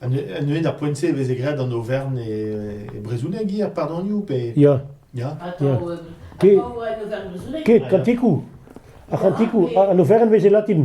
Neuze ar poent-se e veze graet an Aovern e brezhoneg hier, pardonioù pe... Ya. Ya. Atav en Aovern brezhoneg. Ket, kantikoù. Ar kantikoù, an Aovern veze latin.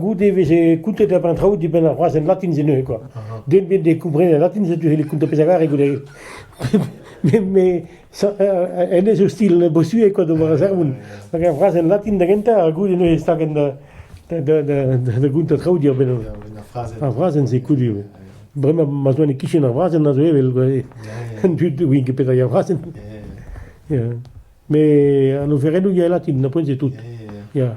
goude e veze kountet a-benn an traoù dibenn ar frazenn latin-se neuze kwa. Den ebet ne komprenait latin setu e kountañ pezh a gare goude. Met en ez eo stil bosuet kwa d'ober a sermoun. Hag ar frazenn latin da gentañ, goude neuze stagen da da gountañ traoù diorbenn ar frazenn. Ar frazenn se kudu. Bremañ ma zoa ne kichen ar frazenn a zo evel an dud win ket petra ar frazenn. Mais an oferennoù ya latin, na poent c'est tout. Ya.